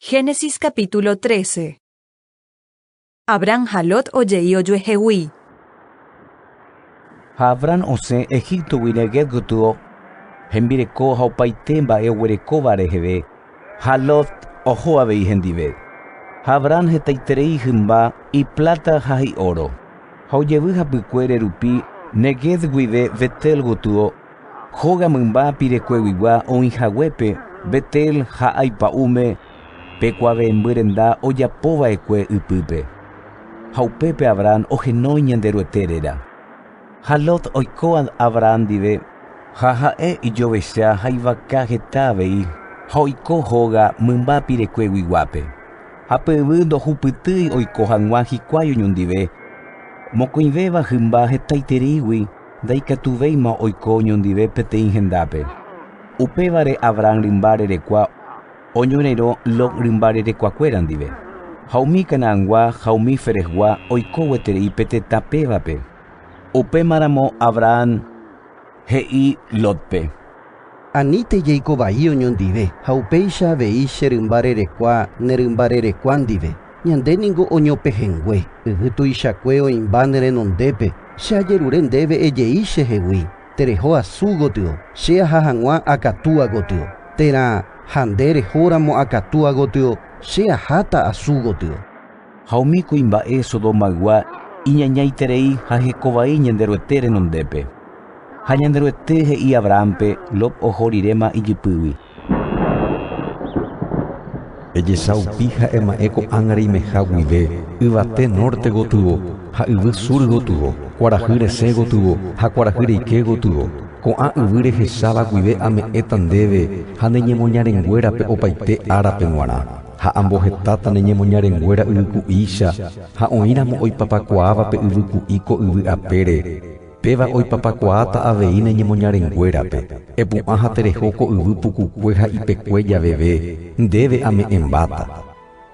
Génesis capítulo 13 Abrán ha Lot oje'i ojuehegui. Ha Abrán osẽ Egíptogui Neguev gotyo, hembireko ha opaite mba'e oguerekóva reheve, ha Lot oho avei hendive. Ha Abrán hetaiterei hymba ipláta ha ióro, ha ojevy hapykuére rupi Neguev guive Betel gotyo Hóga mymba pirekueguigua oĩ haguépe Betel ha Ay pa'ũme pe kuave'ẽmby renda ojapo va'ekue ypýpe. Ha upépe Abraham ohenói Ñanderuete réra. Ha Lot oiko Abraham ndive, ha ha'e ijovecha ha ivaka heta avei, ha oiko hóga mymba pirekueguiguápe. Ha pe yvy ndohupytýi oiko hag̃ua hikuái oñondive, mokõivéva hymba hetaitereígui. Ndaikatuvéima oiko oñondive peteĩ hendápe. Upévare Abrahán rymba rerekua oñorerõ Lot rymba rerekuakuéra ndive, ha umi Canaangua ha umi Ferezgua oiko gueterei pe tetã pévape. Upémaramo Abrahán he'i Lótpe. Aníte jaiko vai oñondive, ha upéicha avei che rymba rerekua ne rymba rerekua ndive. Ñande ningo oñopehengue, yvy tuichakue oĩmba ne renondépe. Che ajerure ndéve ejei che hegui, Tereho asu gotyo, che aha hag̃ua akatúa gotyo, térã ha nde rehóramo akatúa gotyo, che aháta asu gotyo. Ha umi kuimba'e Sodomaygua iñañaiterei ha heko vai Ñanderuete renondépe. Ha Ñanderuete he'i Abrahánpe Lot oho riréma ijypýgui. Ejesaupi ha ema'ẽ ko'ág̃a reimeha guive, yvate nórte gotyo ha yvy sur gotyo, kuarahy resẽ gotyo ha kuarahy reike gotyo. Ko'ã yvy rehecháva guive ame'ẽta ndéve ha ne ñemoñarenguérape opaite árape g̃uarã. Ha ambohetáta ne ñemoñarenguéra yvyku'ícha ha oĩramo oipapakuaáva pe yvyku'i ko yvy apére, péva oipapakuaáta avei ne ñemoñarenguérape. Epu'ã ha tereho ko yvy pukukue ha ipekue javeve, ndéve ame'ẽmbáta.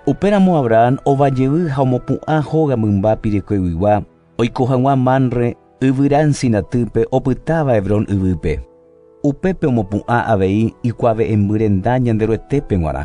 Upéramo Abrahán ova jevy ha omopu'ã hóga mymba pirekoiguigua. oiko hag̃ua Manre yvyra ensinatýpe opytáva Hebrón yvýpe. Upépe omopu'ã avei ikuave'ẽmby renda Ñanderuetépe g̃uarã.